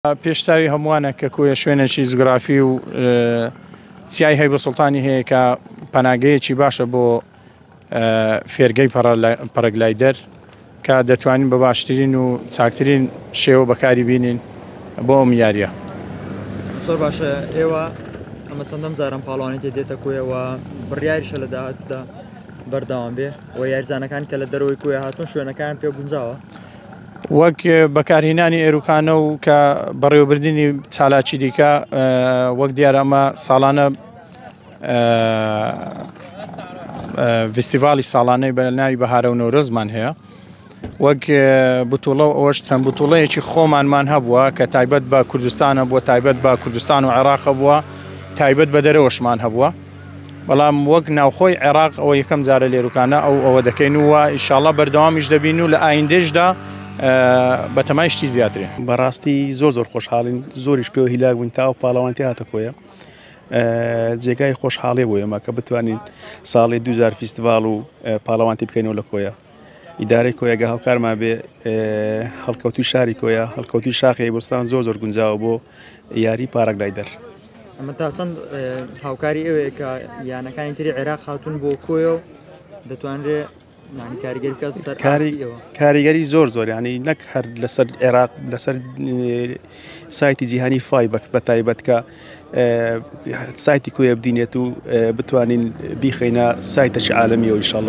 پێش چاوی هەمووانە کە کۆیە شوێنێکی جوگرافی و چیای هەیبە سوڵتانی هەیە کە پەناگەیەکی باشە بۆ فێرگەی پەرەگلایدەر کە دەتوانین بە باشترین و چاکترین شێوە بەکاری بینین بۆ ئەم یاریە زۆر باشە ئێوە ئەمە چەندەم زارم پاڵوانی تێ دێتە کۆیەوە بڕیاریشە لە داهاتدا بەرداوام بێ و یارزانەکان کە لە دەرەوەی کوێ هاتون شوێنەکان پێ گونجاوە وەک بەکارهینانی ئێروکانە و کە بەڕێوەبردننی چالاکی دیکە وەک دیار ئەمە ساڵانە فستیڤالی ساڵانەی بە ناوی بەهارە و نۆرۆزمان هەیە وەک بتوڵە و ئەوەش چەند بتوڵەیەکی خۆمانمان هەبووە کە تایبەت بە کوردستانە بووە تایبەت بە کوردستان و عێراق بووە تایبەت بە دەرەوەشمان هەبووە بەڵام وەک ناوخۆی عێراق ئەوە یەکەم جارە لێروکانە ئەو ئەوە دەکەین و ئیشاڵە بەردەوامیش دەبین و لە ئایندێشدا بەتەمای شتی زیاترین بەڕاستی زۆر زۆر خۆشحاڵین زۆریش پێوە هیلاک بووین تا و پاڵەوانتی هاتە کۆیە جێگای خۆشحاڵێ بۆ ئێمە کە بتوانین ساڵی دوجار فیستیڤال و پاڵەوانتی بکەینەوە لە کۆیە ئیدارەی کۆیە گە هاوکارمان بێ هەڵکەوتوی شاری کۆیە هەڵکەوتوی شاخی بستان زۆر زۆر گونجاوە بۆ یاری پارک لایدەر ئەمە تا چەند هاوکاری ئەوەیە کە یانەکانی تری عێراق هاتون بۆ کۆیە و دەتوانرێ کاریگەری زۆر زۆر ینی نەک هەر لەسەر عێراق لەسەر سایتی جیهانی فایبەک بە تایبەتکە سایتی کوێ بدینێت و بتوانین بیخینە سایتەش عاالمی و ئیشله.